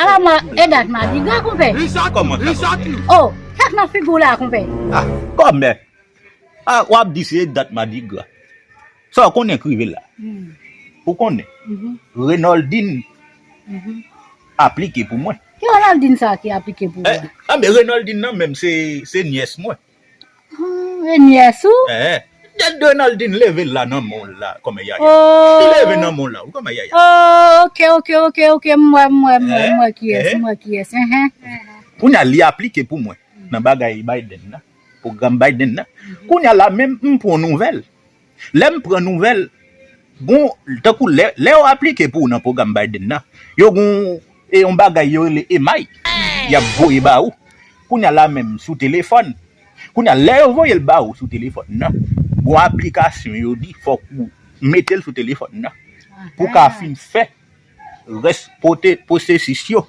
Ala mwen e dat madigra konpè. Lisa kòman sa konpè? Oh sak nan figuw la konpè? Ah kòmè ah wap di se e dat madigra Saw konnen k rive la Ou konnen Renoldine aplike pou mwen Ki Renoldine sa ki aplike pou ou a? Tanbe Renoldine nan menm se nyès mwen. Reniers ou? Eeh de Donaldin leve la nan menw la kòmè yaya li leve nan menw la wi kòmè yaya. Ooh ok ok ok ok m wè m wè m wè m wè kiyès m wè kiyès eeh. Kounya li aplike pou mwen nan bagay Biden nan pwogram Biden nan kounya la menm m pwan nouvèl. Lè m pran nouvèl, gon, tankou lè, lè yo aplike pou ou nan pwogram Biden nan, yo gon e yon bagay yo rele emay y ap voye ba ou. Kounye a la menm sou telefòn, kounye a lè yo voye l ba ou sou telefòn nan, gon aplikasyon yo di fòk ou mete l sou telefòn nan pou w ka fin fè Rès pote posesis yo.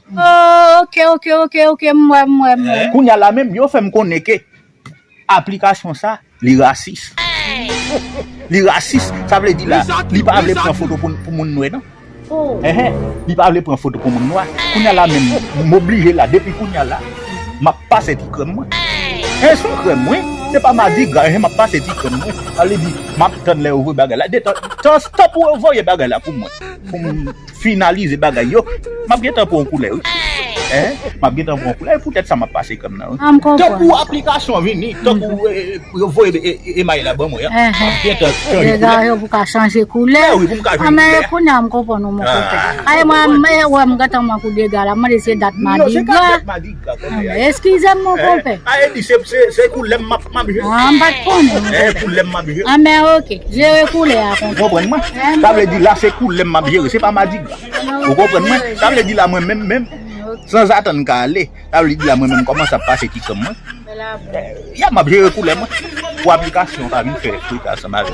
Ok ok ok ok m wè m wè m wè. Kounya la menm yo fèm konnen ke aplikasyon sa li rasis. Li rasis sa vle di la li pa vle pran foto pou moun nwè nan. Enhen li pa vle pran foto pou moun nwa. Kounya la menm m oblije la depi kounya la map pase ti krèm mwen. Enhen son krèm wi se pa madigra enhen map pase ti krèm mwen. Sa vle di map tann lè yo voye bagay la detan tan pou yo voye bagay la pou mwen. Pou m finalize bagay yo M ap gentan pran yon koulè wi M ap gentan pran yon koulè E pou tèt sa m ap pase krèm nan wi Tankou aplikasyon vini Tankou pou yo voye emay la ban mwen an M ap gentan chanje koulè Dega yo pou ka chanje koulè Mèwi pou m ka jwenn koulè a Kounya m konprann ou mon kote Mwen gentan mank ou dega la M mande se dat madigra Eskizem mon konpè. A e di se se koulem map map jwe. An m pat konnen. E koulem map jwe. An men ok. Jere koule a konpè. Ou konprann mwen? Sa vle di la se koulem map jere se pa madigra. Ou konprann mwen? Sa vle di la mwen menm menm san zatann m ka ale. Sa vle di la mwen menm komanse ap pase ti kran mwen. Ya map jere koule mwen. Pou aplikasyon pa vin fè frita san mari.